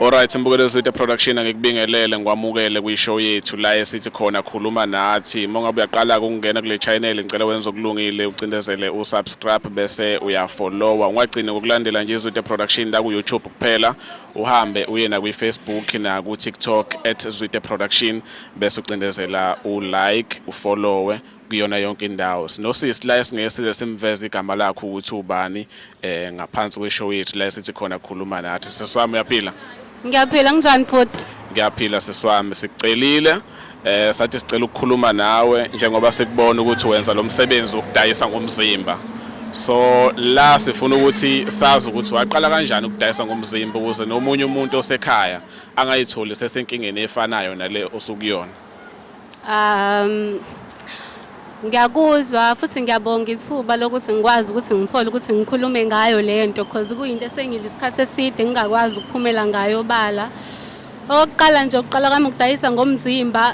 Alright Mbukelo Zitha Production ngikubingelele ngikwamukele kwi show yethu la esithi khona khuluma nathi uma ngabe uyaqala ukungena kule channel ngicela wenze okulungile ucindezele u subscribe bese uya follower ungagcini ngokulandela nje Zitha Production la ku YouTube kuphela uhambe uye na kwi Facebook na ku TikTok @zitha production bese ucindezela u like u followe kuyona yonke indawo sinosisi la esingeke size simveze igama lakho ukuthi ubani eh ngaphansi kweshow yethu la esithi khona khuluma nathi seswami uyaphila ngiyaphila nginjani bhuti ngiyaphila seswami sikucelile eh sathi sicela ukukhuluma nawe njengoba sikubona ukuthi wenza lo msebenzi wokudayisa ngomzimba so la sifuna ukuthi sazi ukuthi waqala kanjani ukudayisa ngomzimba ukuze nomunye umuntu osekhaya angayitholi sesenkingeni efanayo nale osukuyona um ngiyakuzwa futhi ngiyabonga ithuba lokuthi ngikwazi ukuthi ngithole ukuthi ngikhulume ngayo le nto because kuyinto esengile isikhathi eside ngingakwazi ukuphumela ngayo obala okokuqala nje ukuqala kwami ukudayisa ngomzimba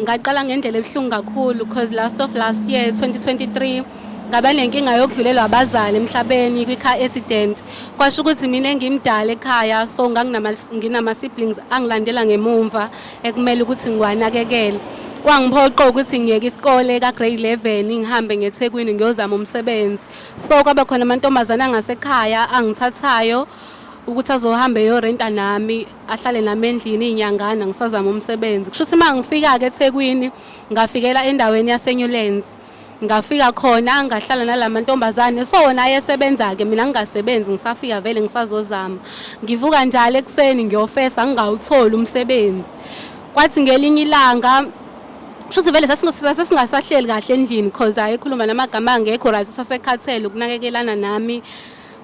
ngaqala ngendlela ebuhlungu kakhulu because last of last year 2023 ngaba nenkinga yokudlulelwa abazali emhlabeni kwi-car accident kwasho ukuthi mina ngimdala ekhaya so nganginama-siblings angilandela ngemumva ekumele ukuthi ngiwanakekele kwangiphoqa ukuthi ngiyeke isikole ka grade 11 ngihambe ngeThekwini ngiyozama umsebenzi so kwaba khona amantombazane angasekhaya angithathayo ukuthi azohamba eyorenta nami ahlale nami endlini inyangana ngisazama umsebenzi kusho ukuthi mangifika ke eThekwini ngafikela endaweni yaseNewlands ngafika khona ngahlala nalamantombazane so wona ayesebenza ke mina ngingasebenzi ngisafika vele ngisazozama ngivuka njalo ekuseni ngiyofesa ngingawutholi umsebenzi kwathi ngelinye ilanga shuthi vele sasingasahleli kahle endlini because ayekhuluma namagama angekho right sasekhathele ukunakekelana nami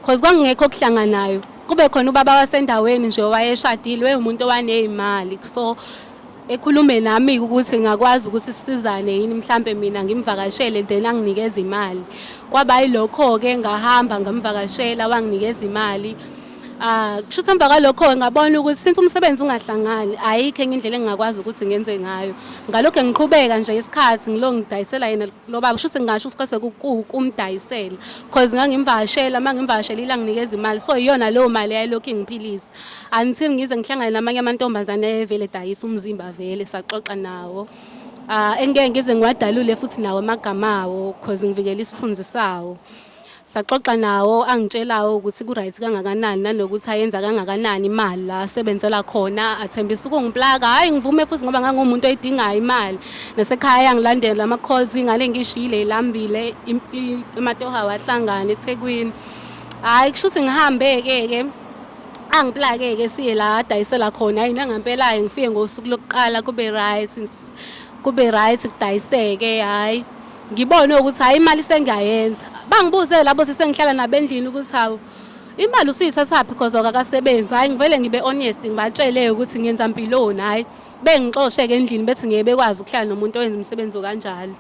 because kwangekho okuhlanganayo kube khona ubaba wasendaweni nje owayeshadile wayewumuntu owaneyimali so ekhulume nami ukuthi ngakwazi ukuthi sisizane yini mhlampe mina ngimvakashele then anginikeze imali kwaba yilokho-ke ngahamba ngamvakashela wanginikeza imali Ah, kusho ukuthi emva kwalokho ngabona ukuthi since umsebenzi ungahlangani ayikho enye indlela engingakwazi ukuthi ngenze ngayo ngalokho ngiqhubeka nje isikhathi ngilo ngidayisela yena lo baba kusho ukuthi ngingasho ukuthi kwase kumdayisela cause ngangimvashela uma ngimvashelile anginikeza imali so iyona leyo mali yayilokhu ingiphilisa until ngize ngihlangane namanye amantombazane ayevele dayisa umzimba vele saxoxa nawo uh, engeke ngize ngiwadalule futhi nawo amagama awo cause ngivikela isithunzi sawo saxoxa nawo angitshelawo ukuthi ku-right kangakanani nanokuthi ayenza kangakanani imali la asebenzela khona athembisa ukungiplaka hhayi ngivume futhi ngoba ngangumuntu oyidingayo imali nasekhaya yangilandela ama-calls ingane engishiyile ilambile amatoha wahlangana ethekwini Hayi kusho ukuthi ngihambe-ke-ke angiplake-ke siye la adayisela khona yini angampelayo ngifike ngosuku lokuqala kube right kube right kudayiseke hhayi ngibone ukuthi hhayi imali sengiyayenza bangibuze labo sesengihlala nabendlini ukuthi hawu imali usuyithathaphi because akakasebenzi hhayi ngivele ngibe honest ngibatshele ukuthi ngenza mpiloni hhayi bengixoshe-ke endlini bethi ngeke bekwazi ukuhlala nomuntu owenza umsebenzi okanjalo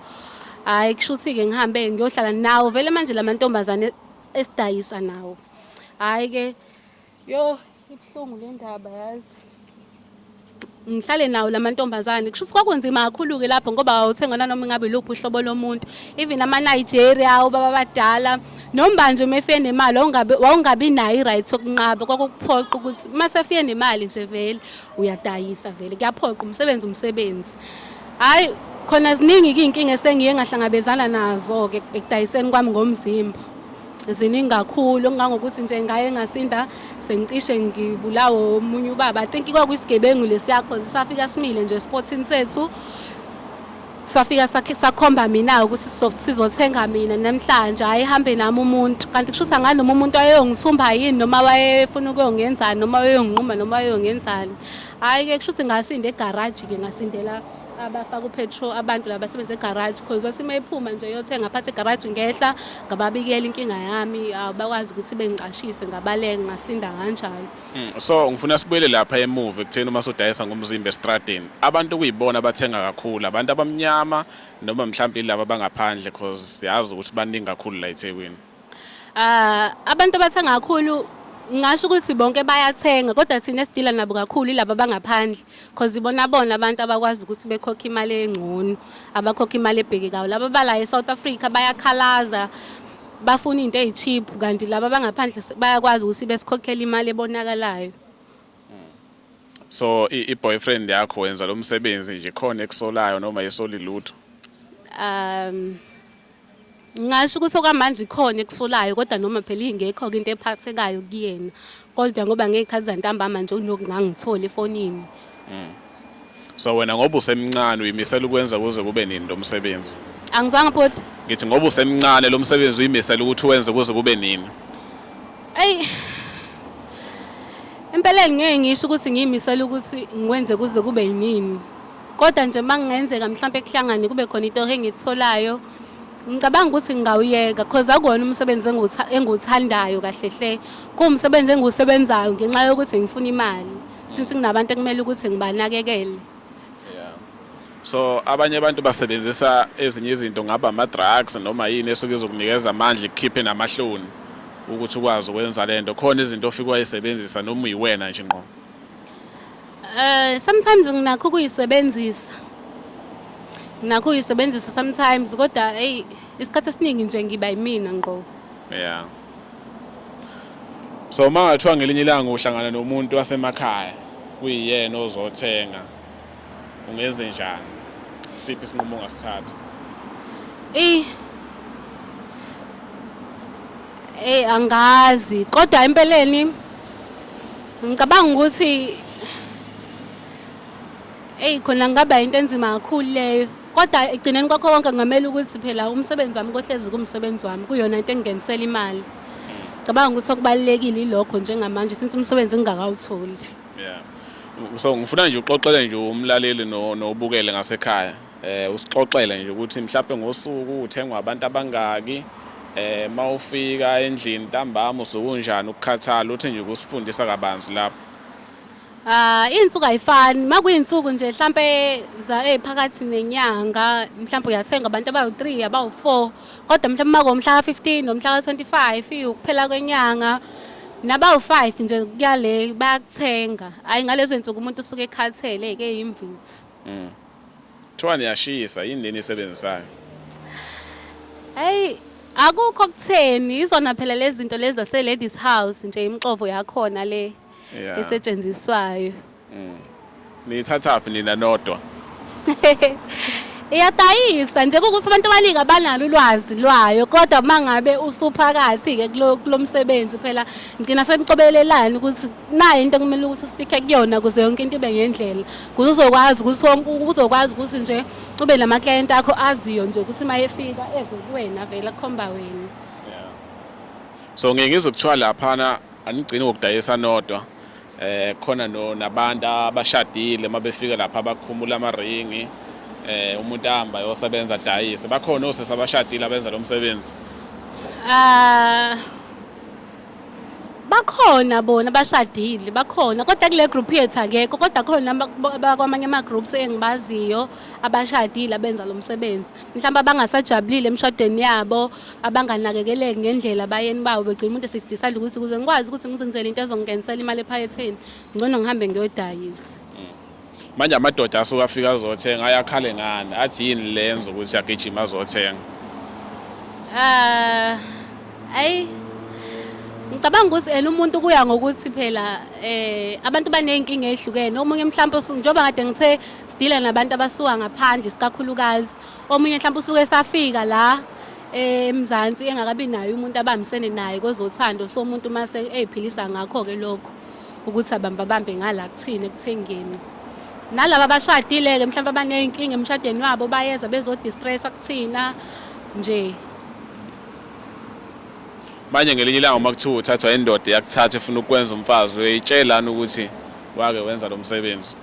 hhayi kusho ukuthi-ke ngihambe ngiyohlala nawo vele manje la mantombazane esidayisa nawo hhayi ke yo ibuhlungu le ndaba yazi ngihlale nawo la mantombazane kusho ukuthi kwakunzima kakhulu-ke lapho ngoba wawuthenga nanoma ingabe luphi uhlobo lomuntu even ama-nigeria ubaba abadala noma nje uma efike nemali wawungabi nayo i-right yokunqaba kwakukuphoqa ukuthi uma sefike nemali nje vele uyadayisa vele kuyaphoqa umsebenzi umsebenzi Hayi khona ziningi izinkinga esengiye ngahlangabezana nazo ke ekudayiseni kwami ngomzimba. Ziningi kakhulu okungangokuthi nje ngaye ngasinda sengicishe ngibulawo omunye ubaba. I think kwakuyisigebengu lesiya cause safika simile nje esportini sethu. Safika sakhomba mina ukuthi sizothenga mina namhlanje hayi hambe nami umuntu kanti kusho ukuthi anganoma umuntu wayeyongithumba yini noma wayefuna ukuyongenzani noma wayeyonginquma noma wayeyongenzani. Hayi ke kushuthi ngasinda egarage ke ngasindela abafaka upetrol abantu laba basebenza egarage because wathi uma ephuma nje yothenga phathe egarage ngehla ngababikela inkinga yami bakwazi ukuthi bengicashise ngabaleke ngasinda kanjalo hmm, so ngifuna sibuyele lapha emuva ekutheni uma sodayisa ngomzimba estradini abantu kuyibona abathenga kakhulu abantu abamnyama noma mhlawumbe laba bangaphandle because siyazi ukuthi baningi kakhulu la eThekwini Ah, abantu abathenga kakhulu ngasho ukuthi bonke bayathenga kodwa thina esidila nabo kakhulu ilaba bangaphandle because ibona bona abantu abakwazi ukuthi bekhokhe imali engcono abakhokhe imali ebhekekayo laba bala eSouth Africa bayakhalaza bafuna into ezicheap kanti laba bangaphandle bayakwazi ukuthi besikhokhele imali ebonakalayo so i boyfriend yakho wenza lo msebenzi nje khona ekusolayo noma yesoli lutho um Ngingasho ukuthi okwamanje ikhona ekusolayo kodwa noma phela ingekho-ke into ephathekayo kuyena kodwa ngoba ngey'khathi zantambama nje unokungangitholi efonini mm. so wena ngoba usemncane uyimisela ukwenza kuze kube nini lo msebenzi angizwanga bhuti ngithi ngoba usemncane lo msebenzi uyimisela ukuthi wenze kuze kube nini eyi empeleni ngeke ngisho ukuthi ngiyimisela ukuthi ngiwenze kuze kube yinini kodwa nje uma kungenzeka mhlawumpe kuhlangane kube khona into engiyitholayo ngicabanga ukuthi ngingawuyeka cause akuwona umsebenzi engiwuthandayo kahle hle kuwumsebenzi engiwusebenzayo ngenxa yokuthi ngifuna imali since nginabantu ekumele ukuthi ngibanakekele so abanye abantu basebenzisa ezinye izinto ngaba ama-drugs noma yini esuke izokunikeza amandla ikukhiphe namahloni ukuthi ukwazi ukwenza le nto khona izinto ofike wayisebenzisa noma uyiwena nje nqo Eh sometimes nginakho ukuyisebenzisa. Nginakho ukuyisebenzisa sometimes kodwa hey isikhathi esiningi nje ngiba yimina ngqo. Yeah. So mangathiwa ngelinye ilanga uhlangana nomuntu wasemakhaya kuyiyena ozothenga ungenzenjani? Isiphi isinqumo ongasithatha? Eyi eyi angazi kodwa empeleni ngicabanga ukuthi eyi khona ngaba into enzima kakhulu leyo kodwa ekugcineni kwakho konke kungamele ukuthi phela umsebenzi wami kohlezi kumsebenzi wami kuyona into engingenisela imali cabanga ukuthi okubalulekile ilokho njengamanje since umsebenzi ngingakawutholi Yeah. So ngifuna nje uxoxele nje umlaleli no nobukele ngasekhaya. Eh usixoxele nje ukuthi mhlawumbe ngosuku uthengwa abantu abangaki eh mawufika endlini ntambama usukunjani ukukhathala uthi nje kusifundisa kabanzi lapho. Ah insuku ayifani makuyinsuku nje mhlambe za eziphakathi nenyanga mhlambe uyathenga abantu abawu3 abawu4 kodwa mhlawumbe uma ngomhla ka-15 nomhla ka-25 ukuphela kwenyanga nabawu-5 nje kuyale bayakuthenga hhayi ngalezo nsuku umuntu usuke ekhathele-ke yimvithi mm. kuthiwa niyashisa yini leni isebenzisayo hhayi akukho kutheni izona phela lezi zinto lezi zase-ladies house nje imixovo yakhona le Yeah. esetshenziswayo Mm. Niyithathaphi nina nodwa? iyadayisa nje kukuthi abantu abaningi abanalo ulwazi lwayo kodwa uma ngabe usuphakathi-ke kulo kulo msebenzi phela ngigcina semcobelelani ukuthi nayo into ekumele ukuthi usitike kuyona ukuze yonke into ibe ngendlela kuze uzokwazi ukuthi wonke- uzokwazi ukuthi nje ube namaklayenti akho aziyo nje ukuthi uma efika eve kuwena vele akhomba wena So ngeke ngizokuthiwa laphana Anigcini ngokudayisa nodwa eh khona no nabantu abashadile mabefika lapha abakhumula amaringi eh umuntu ahamba yosebenza dayise bakhona osisi abashadile abenza lo msebenzi Ah bakhona bona bashadile bakhona kodwa kule group yethu akekho kodwa khona abakwamanye ama groups engibaziyo abashadile abenza lo msebenzi mhlawumbe abangasajabulile emshadweni yabo abanganakekeleki ngendlela abayeni bawo begcina umuntu esidisa adla ukuthi kuze ngikwazi ukuthi ngizenzele into ezongingenisela imali ephaketheni ngcono ngihambe ngiyodayisa mm. manje amadoda asuke afika azothenga ayakhale ngani athi yini lenza ukuthi agijima azothenga ah ayi ngicabanga ukuthi ena umuntu kuya ngokuthi phela eh abantu baneyinkinga ezihlukene omunye mhlawumbe njengoba kade ngithe sidile nabantu abasuka ngaphandle isikakhulukazi omunye mhlawumbe usuke esafika la eMzansi engakabi naye umuntu abambisene naye kwezothando so umuntu uma eyiphilisa ngakho-ke lokho ukuthi abambabambe ngala kuthini ekuthengeni nalaba abashadile-ke mhlawumbe abaney'nkinga emshadweni wabo bayeza bezodistressa kuthina nje manje ngelinye ilanga uma kuthiwa uthathwa indoda yakuthatha efuna ukwenza umfazi uyayitshelani ukuthi wake wenza lo msebenzi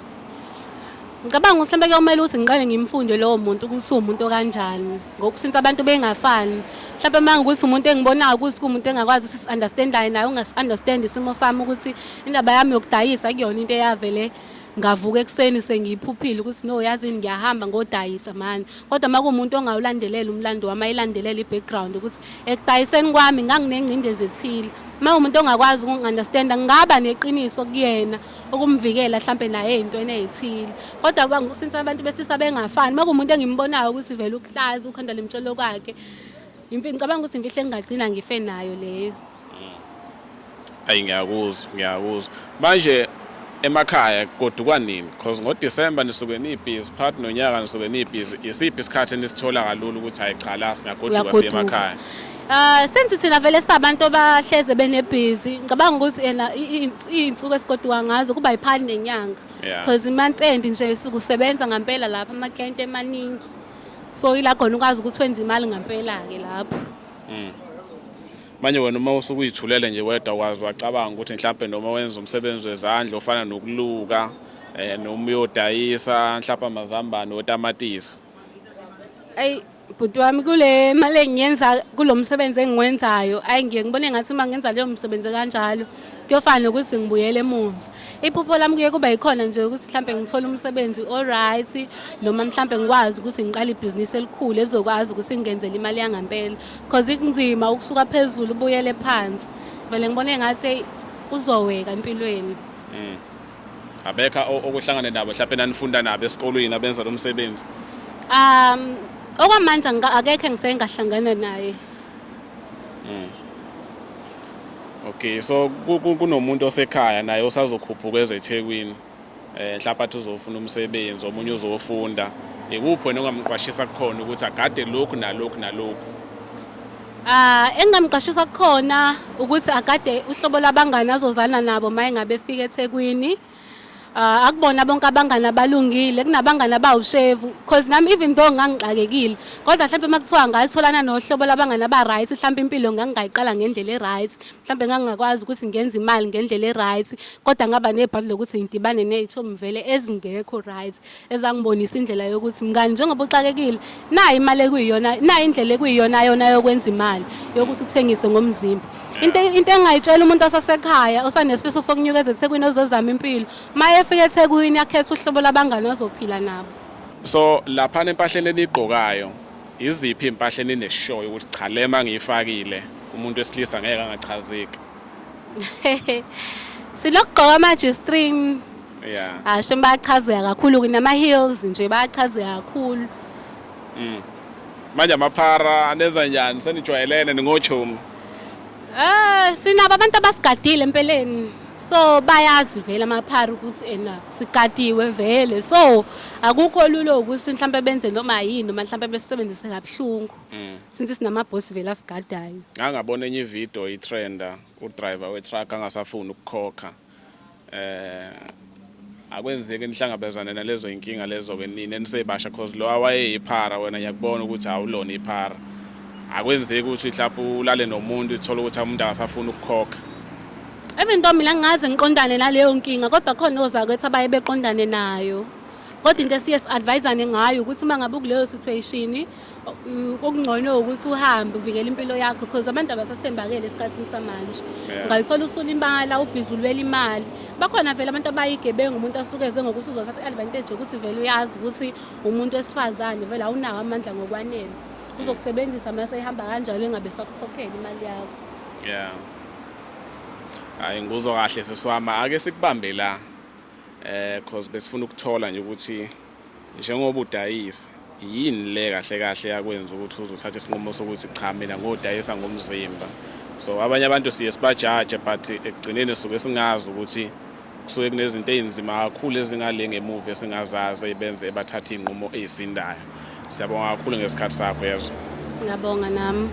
Ngicabanga ukuthi mhlawumbe kuyomele ukuthi ngiqale ngimfunde lowo muntu ukuthi uwumuntu okanjani ngoba since abantu bengafani mhlawumbe uma ngukuthi umuntu engibonayo ukuthi kuwumuntu engakwazi ukuthi si-understandayo naye ungasi-understand isimo sami ukuthi indaba yami yokudayisa kuyona into eyavele ngavuka ekuseni sengiyiphuphile ukuthi no yazini ngiyahamba ngodayisa mani kodwa uma kuwumuntu ongawulandelela umlando wami ayilandelela i-background ukuthi ekudayiseni kwami nganginengcindezi ethile uma umuntu ongakwazi ukungi-understanda ngingaba neqiniso kuyena ukumvikela mhlampe naye ey'ntweni ey'thile kodwa kuba since abantu besilisa bengafani uma kuwumuntu engimbonayo ukuthi vele ukuhlaza ukhanda limtshelo kwakhe ngicabanga ukuthi imfihlo engingagcina ngife nayo leyo ayi ngiyakuzwa ngiyakuzwa manje emakhaya kodukwa nini because ngodisemba nisuke niyibhizi phakathi nonyaka nisuke niyibhizi isiphi isikhathi enisithola kalula ukuthi hayi cha la singagoduka siye emakhaya Uh, senthi thina vele sabantu abahleze benebhizi ngicabanga ukuthi ena iy'nsuku esigoduka ngazo kuba yiphali nenyanga because yeah. imonth end nje sukusebenza ngampela lapha amaklayenti emaningi so ila khona ukwazi ukuthi wenze imali ngampela-ke lapho mm. manje wena uma usukuyithulele nje wedwa wazi wacabanga ukuthi mhlawumpe noma wenza umsebenzi wezandla ofana nokuluka um noma uyodayisa mhlawumpe amazambane otamatisi Ayi bhuti wami kule mali engiyenza kulo msebenzi engiwenzayo ayi ngiye ngibone ngathi uma ngenza leyo msebenzi kanjalo kuyofana nokuthi ngibuyele emuva iphupho lami kuye kuba yikhona nje ukuthi mhlawumbe ngithole umsebenzi o-right noma mhlawumbe ngikwazi ukuthi ngiqale ibhizinisi elikhulu elizokwazi ukuthi ngingenzele imali yangampela because kunzima ukusuka phezulu ubuyele phansi vele ngibone ngathi uzoweka empilweni mm. Abekha okuhlangane nabo mhlawumbe nanifunda nabo esikolweni abenza lo msebenzi? Um okwamanje akekho engiseke ngahlangana naye. Mm. Okay so kunomuntu osekhaya naye osazokhuphuka ezeThekwini. Eh mhlawumbe athi uzofuna umsebenzi omunye uzofunda. Ikuphi wena ongamqwashisa kukhona ukuthi agade lokhu nalokhu nalokhu? Ah, engingamqashisa kukhona ukuthi agade uhlobo labangani azozana nabo uma engabe efika eThekwini. Ah, akubona bonke abangani abalungile, kunabangani abawushevu because nami even though ngangixakekile kodwa mhlawumbe uma kuthiwa ngatholana nohlobo labangani aba-right mhlawumbe impilo ngangingayiqala ngendlela e-right mhlawumbe ngangingakwazi ukuthi ngenze imali ngendlela e-right kodwa ngaba nebhadi lokuthi ngidibane ney'thombe vele ezingekho right ezangibonisa indlela yokuthi mngani njengoba uxakekile nayo imali ekuyiyona nayo indlela ekuyiyona yona yokwenza imali yokuthi uthengise ngomzimba into into engayitshela umuntu osasekhaya osanesifiso sokunyukeza eThekwini ozozama impilo maye efika eThekwini akhethe uhlobo labangani azophila nabo so lapha nempahleni enigqokayo iziphi impahla enineshoyo ukuthi cha lema ngiyifakile umuntu wesilisa ngeke angachazeki Silokugqoka ama G-string. Yeah. Asho bayachazeka kakhulu kunama heels nje bayachazeka kakhulu. Mm. Manje amaphara anenza njani senijwayelene ningochomi? Ah, sinabo abantu abasigadile empeleni. so bayazi vele amaphara ukuthi ena sigadiwe vele so akukho lulo ukuthi mhlawumbe benze noma yini noma mhlawumbe besebenzise kabuhlungu mm. since sinamabhosi vele asigadayo ngangabona enye ividiyo itrenda udriver wetruck angasafuni ukukhokha eh akwenzeki nihlangabezane nalezo inkinga lezo ke nini enisebasha cause lo awayeyiphara wena ngiyakubona ukuthi awulona iphara akwenzeki ukuthi mhlawumbe ulale nomuntu uthola ukuthi umuntu akasafuni ukukhokha even though mina ngingaze ngiqondane naleyo nkinga kodwa khona ozakwethu abaye beqondane nayo kodwa into esiye si-advisane ngayo ukuthi uma ngabe ukuleyo situation okungcono ukuthi uhambe uvikele impilo yakho because abantu abasathembakele esikhathini samanje ungalithola usulimala ubhizi ulwela imali bakhona vele abantu abayigebengu umuntu asuke eze ngokuthi uzothatha i-advantage yokuthi vele uyazi ukuthi umuntu wesifazane vele awunawo amandla ngokwanele uzokusebenzisa mase ihamba kanjalo engabe sakukhokhela imali yakho yeah hayi nguzwa kahle seswama ake sikubambe la eh cause besifuna ukuthola nje ukuthi Njengoba udayisa, yini le kahle kahle yakwenza ukuthi uze uthathe isinqumo sokuthi cha mina ngodayisa ngomzimba? So abanye abantu siye sibajaje but ekugcineni suke singazi ukuthi kusuke kunezinto ezinzima kakhulu ezingale ngemuva esingazazi ebenze ebathatha izinqumo ezisindayo. Siyabonga kakhulu ngesikhathi sakho yezwa. Ngiyabonga nami.